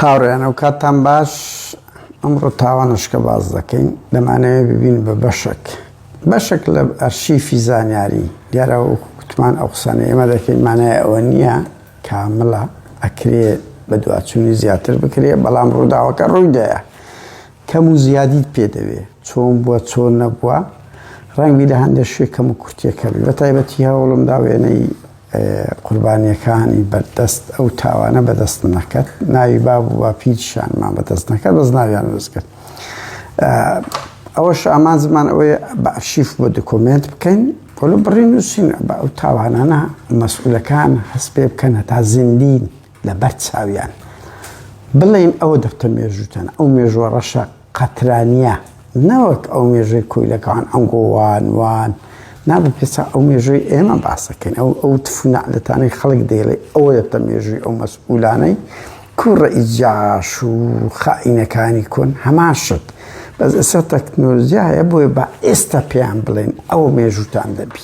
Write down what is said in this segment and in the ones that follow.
هاوڕێیان ئەو کاتتان باش ئەمڕۆ تاوانشکە باز دەکەین دەمانەوێت ببین بە بەشک بەشک لە ئەرشیفی زانیاری دیارە وکوتمان ئەو قسانە ئێمە دەکەین مانای ئەوە نییە کاملە ئەکرێ بە دواچوونی زیاتر بکرێ بەڵام ڕووداوەکە ڕوویدایە کەم و زیادیت پێ دەوێ چۆن بووە چۆن نەبووە ڕەنگبی لە هەندێک شوێ کەم و کورتەکەبی بە تایبەتی هەوڵم دا وێنەی قوربانیەکانی بەردەست ئەو تاوانە بەدەست نەکەت ناوی باب و باپیرشانمان بەدەست نەکەت بەس ناویان وەزکرد ئەوەش ئامان زمان ئەوەیە بە ئەرشیف بۆ دکۆمنت بکەین کۆلو بڕی نووسین بە ئەو تاوانانە مەسئولەکان هەست پێ بکەنە تا زیندین لەبەر چاویان بڵێن ئەوە دەفتە مێژووتان ئەو مێژووە ڕەشە قەترانیە نەوەک ئەو مێژووی کۆیلەکان ئەنگۆوان وان نابێت پێسا ئەو مێژووی ئێمە باسەکەین ئەو ئەو تفونەعلەتانەی خەڵک دەیڵێ ئەوە دەفتە مێژووی ئەو مەسئولانەی کوڕە ئیجاش و خائینەکانی کۆن هەمان شت بەس ئێستا تەکنۆلۆژیا هەیە بۆیە بە ئێستا پێیان بڵێن ئەوە مێژووتان دەبی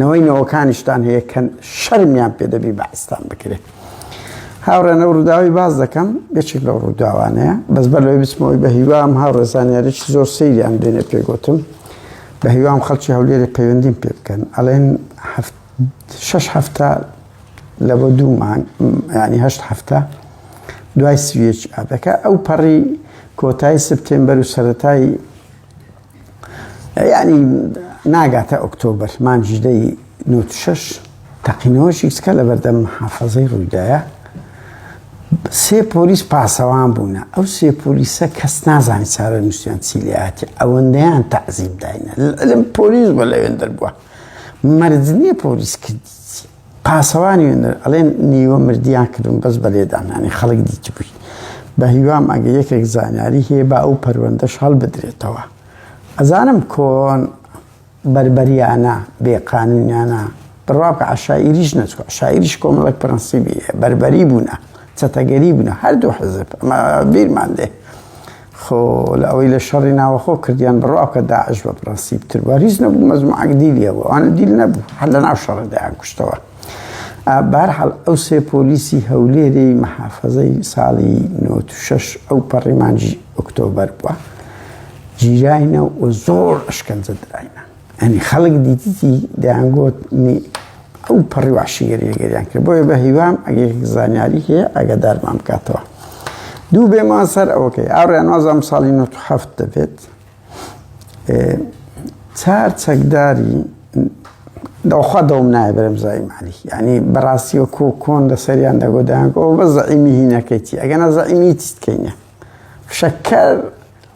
نەوەی نەوەکانیشتان هەیە کە شەرمیان پێ دەبی بەعستان بکرێت هاوڕێنە ڕووداوی باز دەکەم یەکێک لەو ڕووداوانەیە بەس بەر لەوەی بچمەوەی بە هیوام هاوڕێزانیارێک زۆر سەیریان دێنێ پێگوتم بە هیوام خەڵکی هەولێری پەیوەندیم پێ بکەن ئەڵێن شش هەفتە لە بۆ دوو مانگ ینی هەشت هەفتە دوای سویەکی ئادەکە ئەو پەڕی کۆتای سپتێمبەر و سەتای یانی ناگاتە ئۆکتۆبەر مانجدەی نوتشەش تەقینەوەشی سکە لە بەردەم حافەزەی ڕوویدایە سێ پۆلیس پاسەوان بوونە ئەو سێ پۆلیسە کەس نازانی چارە نووسیان چیلیاتی ئەوەندەیان تەعزیب داینە لەم پۆلیس بە لەوێن دەربووە مەرجنیە پۆلیس کردی پاسەوانی وێنەر ئەڵێن نیوە مردیان کردم بەس بە لێدانانی خەڵک دیتبووی بە هیوام ئەگە یەکێک زانیاری هەیە با ئەو پەروەندەش هەڵبدرێتەوە ئەزانم کۆن بەربەریانە بێقانونیانە بڕواکە عشاعیریش نەچوە شاعریش کۆمەڵک پرەنسیبی بەربەری بوونە چەتەگەری بوونە هەردوو حەزب ئەمە بیرمان دێ خۆ لە ئەوەی لە شەڕی ناوەخۆ کردیان بڕوا بکە داعش بە پرەنسیب تر بووە هیچ نەبوو مەزمعەک دیلیە بوو ئەوانە دیل نەبوو هەر لە ناو شەڕ دەیان کوشتەوە بارحاڵ ئەو سێ پۆلیسی هەولێری مەحافەزەی ساڵی 96 ئەو پەڕیمانجی ئۆکتۆبەر بووە جیراینە و زۆر ئەشکەنجە دراینە ئەنی خەڵک دیتیتی دەیانگوت ئەو پەڕی واشیگەریگەریان کرد بۆیە بە هیوام ئەگەر زانیاری هەیە ئەگەدارمان بکاتەوە دوو بێمان سەر ئەوکەی ئاڕیان وازام ساڵی 1970 دەبێت چار چەکداری دەوخوا دەوم نایە بەرم زای مالی ینی بەڕاستی و کۆ کۆن لە سەریان دەگۆدایان ئەو بە زەعیمی هینەکەیتی ئەگەنا زەعیمی تیتکەینە فشەکەر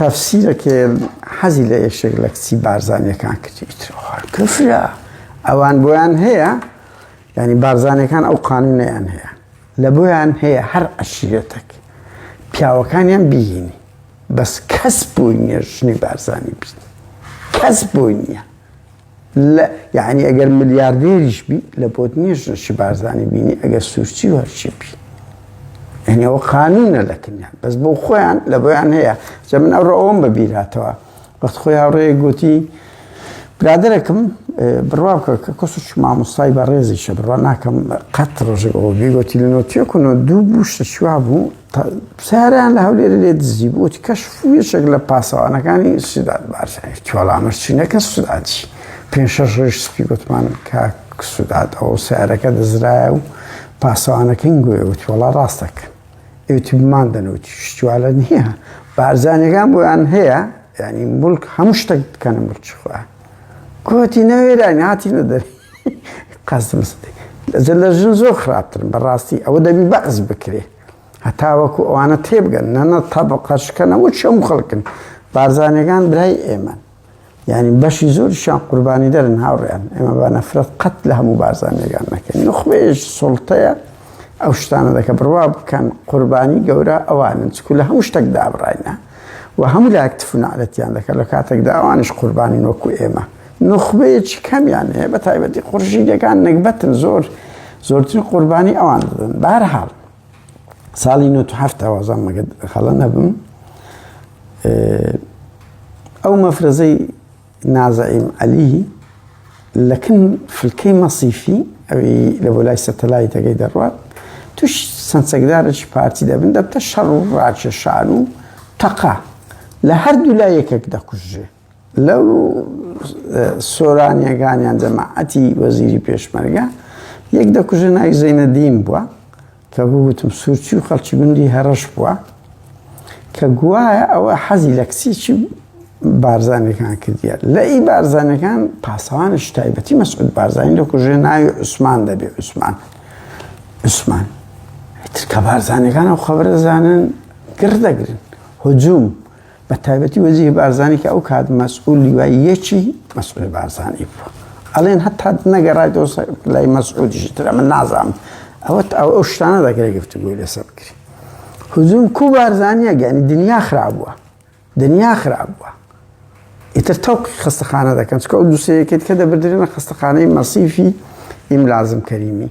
تەفسیرەکێ حەزی لە یەکێک لە کچی بارزانیەکان کردی کفرە ئەوان بۆیان هەیە ینی بارزانەکان ئەو قانونیان هەیە لە بۆیان هەیە هەر عشرێتەک پیاوەکانیان بینی بەس کەس بووی نیە ژنی بارزانانی بین کەس بووی نییە لە یەعنی ئەگەر ملیاردێریش بی لە بۆت نیە ژنەشی بارزانی بینی ئەگەر سوورچی و هەرچی بی هەنێەوە قانونە لە کنیا بەس بۆ خۆیان لە بۆیان هەیە جە من ئەوڕۆ ئەوم بەبیراتەوە وەخت خۆی هاوڕێ گوتی برادەرەکەم بڕوا بکە کە کەسش مامۆستای بە ڕێزیشە بڕوا ناکەم قەت ڕژێکەوە بێگوتی لە نۆتیەکن و دوو بوو شتە شوا بوو سیارەیان لە هەولێرە لێ دزی بوو وتی کەشف و یەکێک لە پاسەوانەکانی سودات بارزانی وتی وەڵا ئەمەش چینە کە سوداتی پێنج شەش ڕۆژ سپی گوتمان کاک سودات ئەو سیارەکە دزرایە و پاسەوانەکەین گوێ وتی وەڵا ڕاستەکە ئێوتی بمان دەنوتی شتوالە نییە بارزانەکان بۆیان هەیە ینی ملک هەموو شتێک بکەنە ملکی خۆیان کۆتی نەوێرانی هاتی نەدەری قاسم سدیق، ئەجە لە ژن زۆر خراپترن بەڕاستی، ئەوە دەبی بەعس بکرێ هەتاوەکو ئەوانە تێبگەن، نەنە تەبقە شکەنەوەی هەموو خەڵکن، بارزانیەکان برای ئێمەن، یانی بەشی زۆریشیان قوربانیدەرن هاوڕێیان، ئێمە با نەفرەت قەت لە هەموو بارزانیەکان نەکەین، نوخبەیەکی سوڵتەیە ئەو شتانە دەکەن، بڕوا بکەن قوربانی گەورە ئەوانن، چکو لە هەموو شتەک دابڕاینە و هەموو لایەک تف و نەعلەتیان دەکەن، لە کاتێکدا ئەوانیش قوربانین وەکو ئێمە. نوخبەیەکی کەمیان هەیە بە تایبەتی قورشیدەکان نەگبەتن زۆر زۆرترین قوربانی ئەوان دەدەن بارحاڵ ساڵی 1970 وازان مەگە خەڵە نەبم ئەو مەفرەزەی نازەعیم عەلی لەکن فلکەی مەسیفی ئەوی لە بۆ لای سەتەلایتەکەی دەڕوات توش سنسەکدارەی پارتی دەبن دەبتە شەڕ و ڕاکێشان و تەقا لە هەردوو لایەکێک دەکوژێ لەو سۆرانیەکانیان جەماعەتی وەزیری پێشمەرگە یەک دەکوژە ناوی زەینەدین بووە کە بوتم سوورچی و خەڵکی گوندی هەڕەش بووە کە گوایە ئەوە حەزی لە کچێکی بارزانەکان کردیە لە ئی بارزانەکان پاسەوانە شتایبەتی مەسعود بارزانانی لە کوژێ ناوی عوسمان دەبێ عوسمان عوسمان ترکە بارزانەکان و خەبرەزانن گڕ دەگرن هجووم بە تایبەتی وەزیری بارزانانی کە ئەو کات مەسئول لیوای یەکی مەسئول بارزانانی بوو ئەڵێن هەتا نەگەڕای دۆ لای مەسعودیشی ترە من نازانم ئەوە ئەو ئەو شتانە دەگرێ گفتوگوی لەسەر بکری هزوم کو بارزانانیە گەنی دنیا خراپبووە دنیا خراپبووە ئیتر تەوقی خستەخانە دەکەن چکە ئەو دووسەیەکێت کە دەبدرێنە خستەخانەی مەسیفی ئیم لازم کەریمی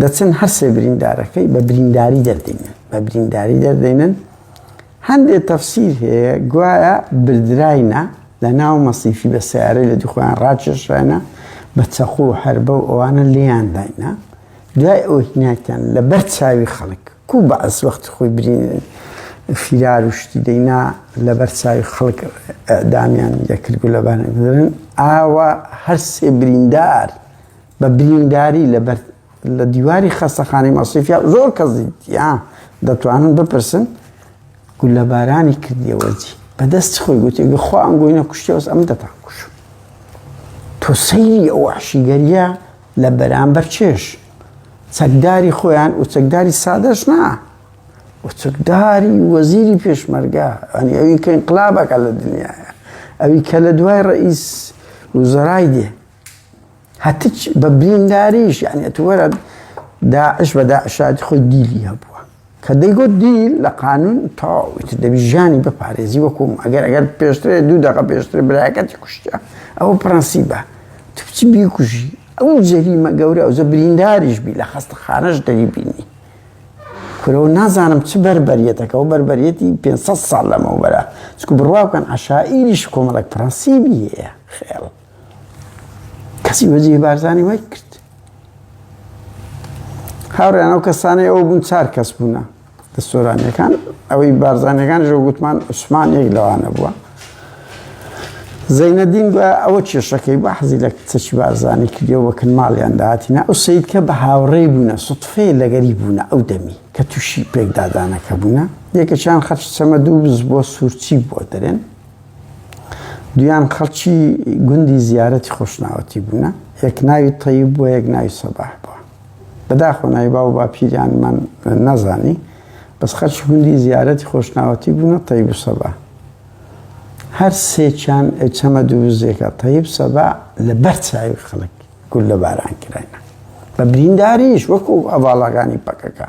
دەچن هەرسێ بریندارەکەی بە برینداری دەردێنن بە برینداری دەردێنن هەندێک تەفسیر هەیە گوایە بردراینە لە ناو مەسیفی بە سیارەی لە دوخۆیان ڕاکێشرانە بە چەقو و هەربە و ئەوانە لێیان داینە دوای ئەو هیناکیان لە بەر چاوی خەڵک کو بە ئەس وەخت خۆی برین فیرار و شتی دەینا لە بەر چاوی خەڵک دامیان دەکرد و لەبارن ئاوا هەرسێ بریندار بە برینداری لە بەر لە دیواری خەستەخانەی مەسیفیا زۆر کەس دیدیا دەتوانن بپرسن گولەبارانی کردیەوەجی بەدەست خۆی گوتی گەخوا ئەم گوینە کوشتیەوەس ئەم دەتان کوش تۆ سەیری ئەو عشیگەریە لە بەرامبەر چێش چەکداری خۆیان و چەکداری سادەش نا وچکداری وەزیری پێشمەرگە ئەنی ئەوی کە انقلابەکە لە دنیاە ئەوی کە لە دوای ڕئیس وزرای دێ هەتچ بە برینداریش یعنی تووەرە داعش بە داعشاتی خۆی دیلی هەبووە کە دەیگوت دیل لە قانون تاوت دەبی ژیانی بپارێزی وەکوم ئەگەر ئەگەر پێشترێ دوو دەقە پێشتر برایەکەتی کوشتە ئەوە پرەنسی بە تو بچی بیکوژی ئەو جەریمە گەورە ئەوزە برینداریش بی لە خەستە خانەش دەری بینی کورەوە نازانم چ بەربەریەتەکەەوە بەربەرەتی 500 ساڵ لەمەوبەرە چکو بڕواکەن عشائیریش کۆمەڵک پرەنسیبی هەیە خێڵ کەسی وەجی بارزانانی وای کرد هاوڕیان ئەو کەسانەی ئەو بوون چار کەس بوونە دە سۆرانیەکان ئەوەی بارزانانەکان ژە گوتمان عوسمان یەک لەوانە بووە زەینەدین بە ئەوە کێشەکەی بە حەزی لە چەچ بارزانانی کردی وەکن ماڵیان داهاتینە ئەو سید کە بە هاوڕێ بوونە سوتفێ لەگەری بوونە ئەو دەمی کە تووشی پێکدادانەکە بوونە یەکەشان خەرش چەمە دوو بز بۆ سوورچی بۆ دەرێن دویان خەڵکی گوندی زیارەتی خۆشناوەتی بوونە یەک ناوی تەیب بووە یەک ناوی سەباح بووە بەداخۆ ناوی باو باپیریانمان نەزانی بەس خەرچ گوندی زیارەتی خۆشناوەتی بوونە تەیب و سەبا هەر سێکیان چەمە دووزێکە تەیب سەبا لە بەر چاوی خەڵک گول لە باران کراینە بە برینداریش وەکو ئەڤاڵاگانی پەکەکە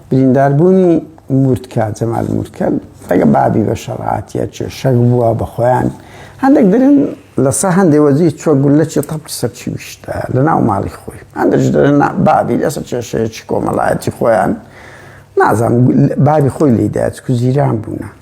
برینداربوونی مورتکە جەمال مورتکە ڕێگە بابی بە شەڕاتیە چێ شەک بووە بە خۆیان هەندێک درن لەسە هەندێ وەزی چوە گولەکی تەپی سەرچی ویشتە لە ناو ماڵی خۆی هەندێک درن بابی لەسەر کێشەیەکی کۆمەڵایەتی خۆیان نازانم بابی خۆی لیدایەت کوزیران بوونە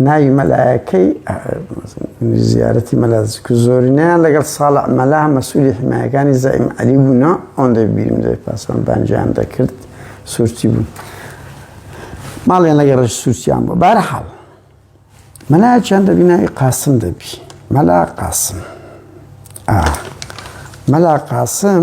ناوی مەلایەکەی زیارەتی مەلازک و زۆرینەیان لەگەڵ ساڵە مەلا مەسوولی حمایەکانی زەئیم عەلی بوونە ئەوەندە بیرم دەێت پاسەوان بانجیان دەکرد سوورتی بوو ماڵیان لەگە ڕژ سووسیان بۆ بارە حاڵ مەلا چیان دەبی ناوی قاسم دەبی مەلا قاسم مەلا قاسم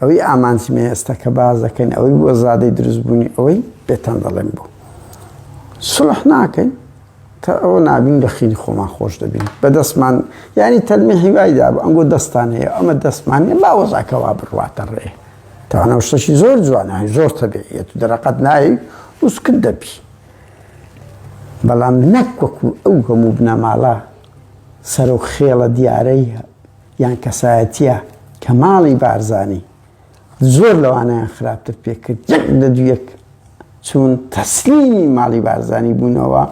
ئەوەی ئامانجمە ئێستا کە باس دەکەین ئەوەی بووە زادەی دروستبوونی ئەوەی پێتان دەڵێم بوو سڵح ناکەین تا ئەوە نابین لە خینی خۆمان خۆش دەبین بە دەستمان یعنی تەلمی هیوایدا بە ئەنگۆ دەستان هەیە ئەمە دەستمان نیە باوەزاکەوا بڕواتە ڕێ تاوانە شتەشی زۆر جوانە زۆر تەبیعەت و دەرەقەت نایی وسکت دەبی بەڵام نەک وەکو ئەو هەموو بنەماڵە سەرۆک خێڵە دیارەیە یان کەسایەتیە کەماڵی بارزانی زۆر لەوانەیان خراپتر پێکرد یەک لە دویەک چون تەسلیمی ماڵی بارزانی بوونەوە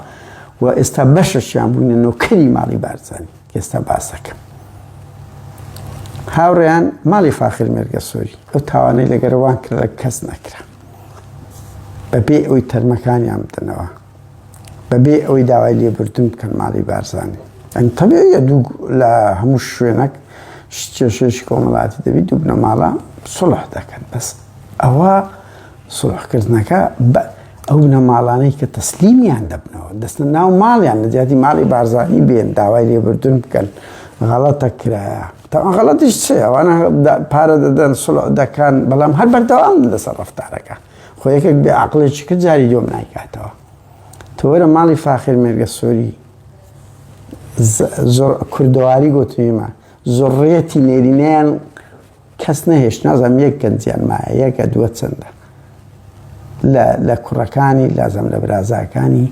و ئێستا بەشەشیان بوونە نۆکەری ماڵی بارزانی ئێستا باسەکەم هاوڕێیان ماڵی فاخر مێرگە سۆری ئەو تاوانەی لەگەرەوان کرد کەس نەکرا بەبێ ئەوی تەرمەکانیان بدەنەوە بەبێ ئەوەی داوای لێبوردن بکەن ماڵی بارزانانی ئەم تەبێە دوو لە هەموو شوێنەک کێشێکی کۆمەڵاتی دەبی دوو بنەماڵە سڵح دەکەن بەس ئەوە سڵحکردنەکە بە ئەو نەماڵانەی کە تەسلیمیان دەبنەوە دەستە ناو ماڵیان لە جیاتی ماڵی بارزانانی بێن داوای لێبوردن بکەن غەڵەتە کرایە تاوان غەڵەتیش چێ ئەوانە پارە دەدەن سڵ دەکەن بەڵام هەر بەردەوام لەسەر ڕفتارەکە خۆ یەکێک بێ عقلێکی کرد جاری دوم نایکاتەوە تۆرە ماڵی فاخر مێرگە سۆری زۆر کوردەواری گوتنیمە زۆڕێتی نێرینیان کەس نەهێش نازم یەک گەنجیان مایە یەکە دووە چەندە لە کوڕەکانی لازم لە برازاکانی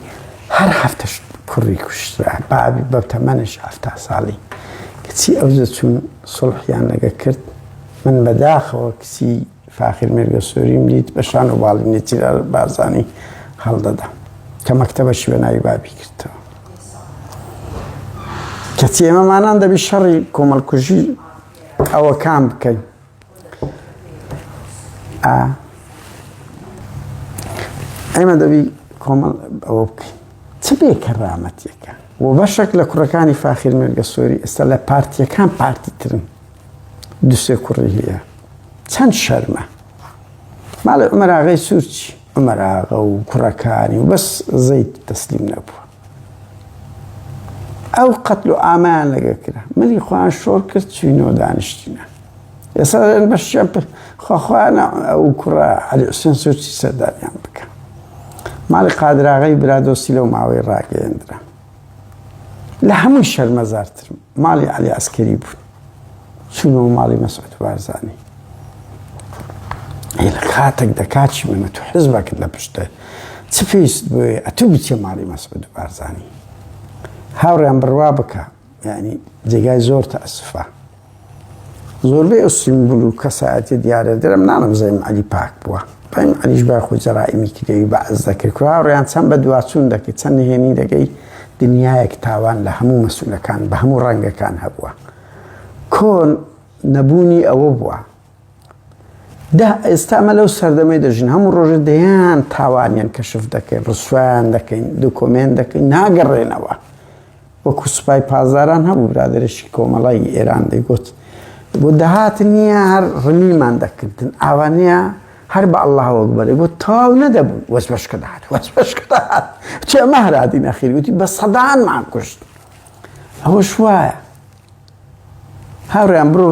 هەر هەفتش کوڕی کوشترا بابی بە تەمەنش هەفتا ساڵی کچی ئەوزە چون سڵحیان لەگە کرد من بەداخەوە کچی فاخیر مێرگەسۆریم دیت بە شان و باڵی نێچیرا بارزانی هەڵدەدا کە مەکتەبە شوێناوی بابی کردەوە کەچی ئێمەمانان دەبی شەڕی کۆمەڵکوژی ئەوە کام بکەین ئێمە دەبی کۆمەڵ ئەوە بکەین چ بێ کەڕامەتیەکە و بەشێک لە کوڕەکانی فاخیر مێرگەسۆری ئێستا لە پارتیەکان پارتی ترن دوسێ کوڕی هەیە چەند شەرمە ماڵی عمەراغی سوورچی عمەراغە و کوڕەکانی و بەس زەیت تەسلیم نەبووە ئەو قەتل و ئامان لەگە کرا منی خۆیان شۆر کرد چوینەوە دانیشتینە ئێستا بەشیان خۆخواانە ئەو کوڕە علی حوسێن سوورچی سەردانیان بکە ماڵی قادراغی برادۆسی لەو ماوەی ڕاگەیەندرا لە هەمووی شەرمەزارترم ماڵی علی عسکەری بوون چونەوە ماڵی مەسعود بارزانانی لە کاتێک دەکاتی منە تو حزبەکرد لە پشتە چ پێست بێ ئەتو بچێ ماڵی مەسعود بارزانانی هاوڕیان بڕوا بکە ینی جێگای زۆر تە ئەسفە زۆربەی ئەو سیمبول و کەسایەتیە دیارە درم نانم زەیم عەلی پاک بووە زەیم عەلیش بای خۆی جەرائیمی کردەوی بەعس دەکرد کوراوڕیان چەند بە دواچوون دەکرد چەند نهێنی دەگەی دنیایەک تاوان لە هەموو مەسولەکان بە هەموو ڕەنگەکان هەبووە کۆن نەبوونی ئەوە بووە دا ئێستا ئەمە لەو سەردەمەی دەژین هەموو ڕۆژە دەیان تاوانیان کەشف دەکەین ڕسویان دەکەین دوکۆمێن دەکەین ناگەڕێنەوە وەکو سوپای پازاران هەبوو برادێکی کۆمەڵی ئێران دەیگوت بۆ دەهات نییە هەر ڕمیمان دەکردن ئاوانە هەر بە ئەله وەک بەێ بۆ تاو نەدەبوو وەس بەشکە دەهات وەس بەشکە دەهات چێ مەهرادی نەخیر وتی بە سەدانمان کوشت ئەوە شوایە هاوڕیان بڕۆ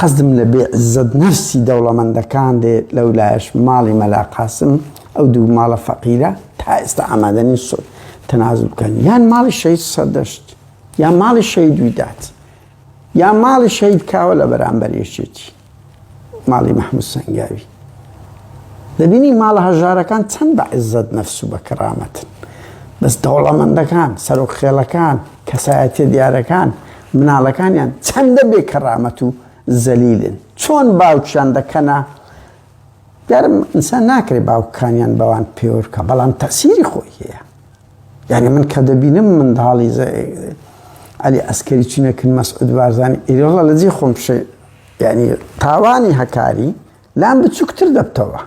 قەزم لە بێ عزت نەفسی دەوڵەمەندەکان دێ لەو لایش ماڵی مەلاقاسم ئەو دوو ماڵە فەقیرە تا ئێستا ئامادەنی سۆ تەناز بکەن یان ماڵی شەید سەردەشت یا ماڵی شەید ویدات یا ماڵی شەید کاوە لە بەرامبەر یەکێتی ماڵی محمود سەنگاوی دەبینی ماڵە هەژارەکان چەند بە عزت نەفس و بە کەرامەتن بەس دەوڵەمەندەکان سەرۆک خێڵەکان کەسایەتە دیارەکان مناڵەکانیان چەندە بێ کەرامەت و زەلیلن چۆن باوکیان دەکەنا یارم ئینسان ناکرێ باوکانیان بەوان پێورکە بەڵام تەسیری خۆی هەیە یعنی من کە دەبینم منداڵی ئەلی ئەسکەری چینەکن مەسعود بارزانانی ئێرۆڵە لەجێ خۆم یانی تاوانی هەکاری لام بچووکتر دەبتەوە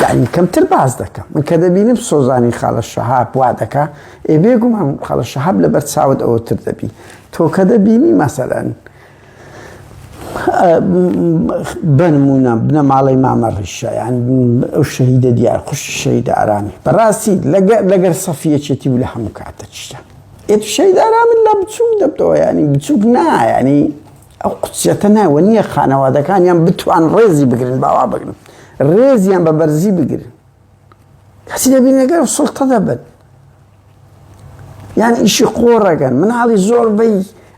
یعنی کەمتر باز دەکەم من کە دەبینم سۆزانی خاڵە شەهاب وا دەکا ئێ بێگومان خاڵە شەهاب لە بەرچاوت ئەوتر دەبی تۆ کە دەبینی مەسەرەن بنمونە بنەماڵی مامە ڕیشەیان ئەو شەهیدە دیار خوش شەیدە ئارامی بەڕاستی لەگەر سەفیەچێتی و لە هەموو کاتە چشتە ئێت شەیدارا من لە بچووک دەبتەوە ینی بچووک نا ینی ئەو قوچەتە ناوە نییە خانەوادەکانیان بتوان ڕێزی بگرن باوا بگرن ڕێزیان بە بەرزی بگرن کەسی دەبینەکە سڵتە دەبن یان ئیشی قۆڕەکەن مناڵی زۆر بەی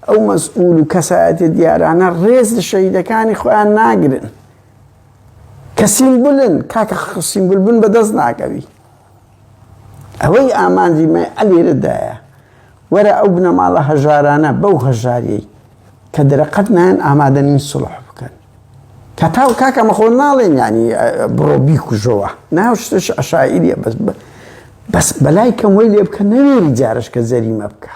ئەو مەسئول و کەسایەتی دیارانە ڕێز لە شەیدەکانی خۆیان ناگرن کەسیم بلن کاکە خسیم بلبن بەدەست ناکەوی ئەوەی ئامانجی مە ئەلێرەدایە وەرە ئەو بنەماڵە هەژارانە بەو هەژاریەی کە دەرەقەت نایەن ئامادەنین سڵح بکەن کە تاو کاکە مەخۆ ناڵێن ینی بڕۆ بیکوژەوە ناوشتش عشاعیریە بەس بەس بەلای کەم وی لێ بکە نەوێری جارش کە زەریمە بکە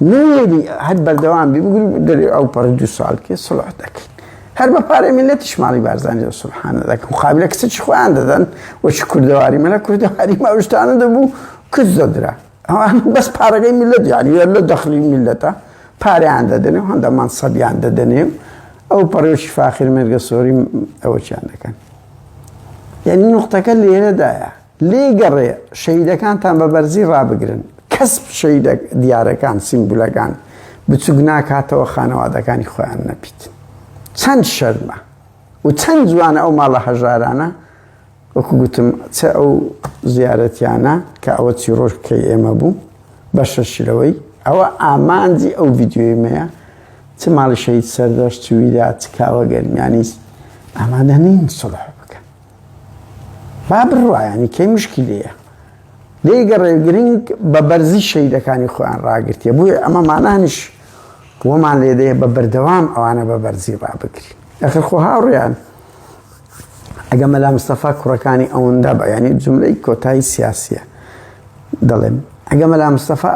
نوێنی هەر بەردەوام بی بگری دەری ئەو پەڕی دو ساڵ کێ سڵح دەکەین هەر بە پارەی منەتی شماڵی بارزانانی و سبحانە دەکەم قابلە کچ خۆیان دەدەن وەچ کوردەواری منە کوردەواری ماوشتانە دەبوو کچ دەدرا ئەوان بەس پارەکەی میلەت یعنی لە دەخلی میلەتە پاریان دەدەنێ و هەندە مانسەبیان دەدەنێ و ئەو پەڕێکی فاخر مێرگە سۆری ئەوەچیان دەکەن یعنی نقطەکە لێرەدایە لێی گەڕێ شەهیدەکانتان بە بەرزی ڕابگرن، کەس شەهیدە دیارەکان، سیمبولەکان بچووک ناکاتەوە خانەوادەکانی خۆیان نەپیتن. چەند شەرمە و چەند جوانە ئەو ماڵە هەژارانە وەکو گوتم چ ئەو زیارەتیانە کە ئەوە چی ڕۆژ بکەی ئێمە بوو بەشەشلەوەی ئەوە ئامانجی ئەو ڤیددیۆیمەیە چ ماڵی شەید سەردەشت چویدا چ کاوە گەرمیانیست ئامادە نین سڵح با بڕوایانی کەی مشکلەیە دەیگەڕێ گرنگ بە بەرزی شەیدەکانی خۆیان ڕاگرتیە بووە ئەمەمانانیش وەمان لێدەیە بە بەردەوام ئەوانە بە بەرزی ڕابگری ئەخر خۆ هاوڕیان ئەگە مەلا مستەفا کوڕەکانی ئەوەندا بە ینی جملەی کۆتایی سیاسیە دەڵێم ئەگە مەلا مستەفا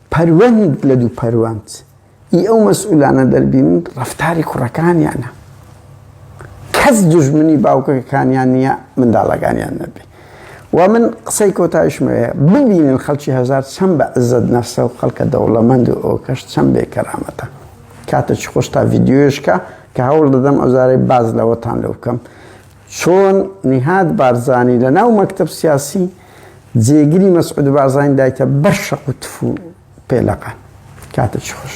پەروەند لە دوو پەروەند ی ئەو مەسئولانە دەربینن ڕەفتاری کوڕەکانیانە کەس دوژمنی باوکەکانیان نییە منداڵەکانیان نەبێ و من قسەی کۆتایشمەیە ببینن خەڵکی هەزار چەند بە عزت نەفسە و خەڵکە دەوڵەمەند و ئەوکەش چەند بێ کەرامەتە کاتە چ خۆش تا ڤیددیوشکە کە هەوڵ دەدەم ئەوزارەی باز لەوەتان لە بکەم چۆن نیهاد بارزانی لە ناو مەکتەب سیاسی جێگری مەسعود بارزانی دایتە بەر شەق و تف و پێلەقە. کاتێکی خۆش.